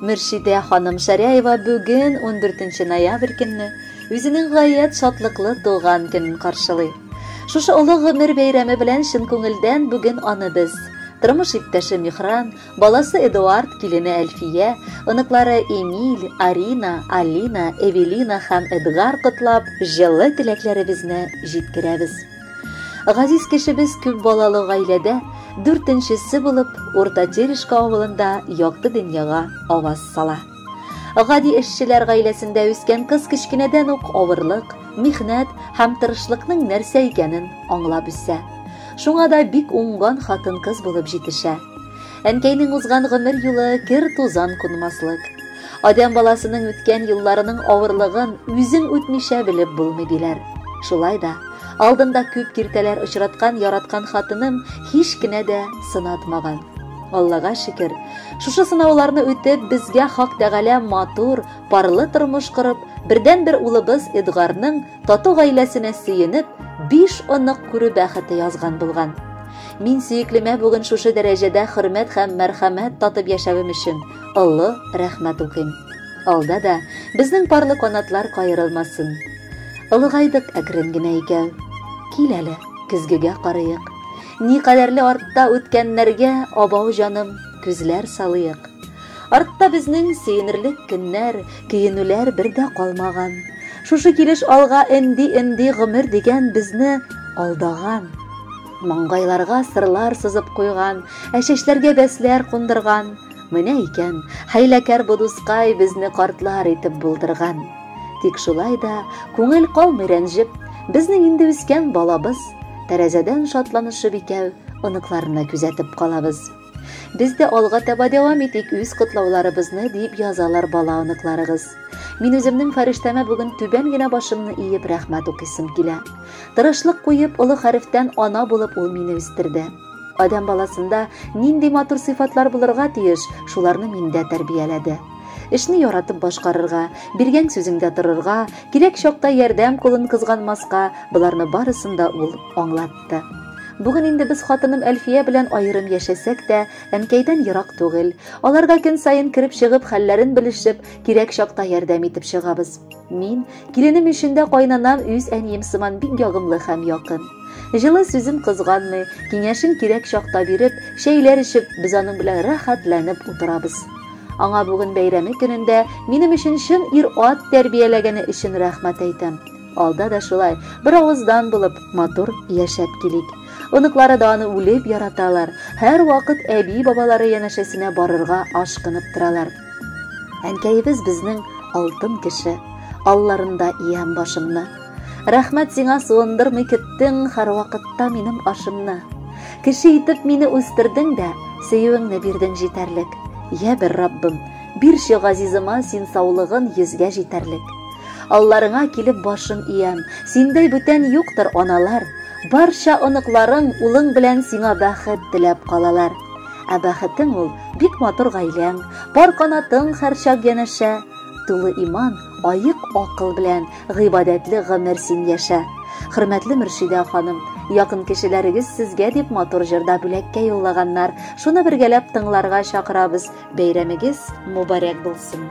Мөршидә ханым Шәряева бүген 14 ноябрь көнне үзенең гаять шатлыклы туган көнен каршылый. Шушы олы гомер бәйрәме белән чын күңелдән бүген аны без, тормыш иптәше Михран, баласы Эдуард, килене Әлфия, оныклары Эмиль, Арина, Алина, Эвелина һәм Эдгар котлап, җылы теләкләребезне җиткерәбез. Газиз кешебез күп балалы гаиләдә дүртенчесе булып Урта Терешка авылында якты дөньяга аваз сала. Гади эшчеләр гаиләсендә үскән кыз кечкенәдән ук авырлык, михнәт һәм тырышлыкның нәрсә икәнен аңлап үсә. Шуңа да бик уңган хатын-кыз булып җитешә. Әнкәйнең узган гомер юлы кер-тузан кунмаслык. Адәм баласының үткән елларының авырлыгын үзең үтмичә белеп булмый, диләр. Шулай да, алдында күп киртәләр очраткан яраткан хатыным һич кенә дә сынатмаган. Аллага шөкер, шушы сынауларны үтеп, безгә Хак Тәгалә матур, парлы тормыш корып, бердәнбер улыбыз Эдгарның Тату гаиләсенә сөенеп, биш онык күрү бәхете язган булган. Мин сөеклемә бүген шушы дәрәҗәдә хөрмәт һәм мәрхәмәт татып яшәвем өчен олы рәхмәт укыйм. Алда да безнең парлы канатлар каерылмасын. Олыгайдык әкрен генә икәү. Кил әле, көзгегә карыйк. Никадәрле артта үткәннәргә, абау җаным, күзләр салыйк. Артта безнең сөенерлек көннәр, көенүләр бер дә калмаган. Шушы килеш алга энди-энди гомер дигән безне алдаган. Маңгайларга сырлар сызып куйган, ә чәчләргә бәсләр кундырган. Менә икән, хәйләкәр бу дускай безне картлар итеп булдырган. Тик шулай да күңел калмый рәнҗеп, безнең инде үскән балабыз, тәрәзәдән шатланышып икәү оныкларны күзәтеп калабыз. Без дә алга таба дәвам итик үз котлауларыбызны, дип язалар бала оныкларыгыз. Мин үземнең фәрештәмә бүген түбән генә башымны иеп рәхмәт укыйсым килә. Тырышлык куеп, олы хәрефтән ана булып ул мине үстерде. Адәм баласында нинди матур сыйфатлар булырга тиеш, шуларны миндә тәрбияләде. Эшне яратып башкарырга, биргән сүзеңдә торырга, кирәк чакта ярдәм кулын кызганмаска, боларны барысын да ул аңлатты. кайтты. Бүген инде без хатыным Әлфия белән аерым яшәсәк тә, әнкәйдән ерак түгел. Аларга көн саен кереп чыгып, хәлләрен белешеп, кирәк чакта ярдәм итеп чыгабыз. Мин, киленем өчен дә кайнанам үз әнием сыман бик ягымлы һәм якын. Җылы сүзен кызганмый, киңәшен кирәк чакта биреп, чәйләр эчеп, без аның белән рәхәтләнеп утырабыз. Аңа бүген бәйрәме көнендә минем өчен чын ир-ат тәрбияләгәне өчен рәхмәт әйтәм. Алда да шулай, бер авыздан булып, матур яшәп килик. Оныклары да аны үлеп яраталар, һәр вакыт әби-бабалары янәшәсенә барырга ашкынып торалар. Әнкәебез безнең алтын кеше, алларында иям башымны. Рәхмәт сиңа суындырмый көттең һәрвакытта минем ашымны. Кеше итеп мине үстердең дә, сөюеңне бирдең җитәрлек. Я бер Раббым, бирче газизыма син саулыгын йөзгә җитәрлек. Алларыңа килеп башым иям, синдәй бүтән юктыр, аналар. Барча оныкларың, улың белән сиңа бәхет теләп калалар. Ә бәхетең ул бик матур гаиләң, пар канатың һәрчак янәшә. Тулы иман, аек акыл белән гыйбадәтле гомер син яшә. Хөрмәтле Мөршидә ханым, якын кешеләрегез сезгә дип матур җырда бүләккә юллаганнар. Шуны бергәләп тыңларга чакырабыз. Бәйрәмегез мубарәк булсын.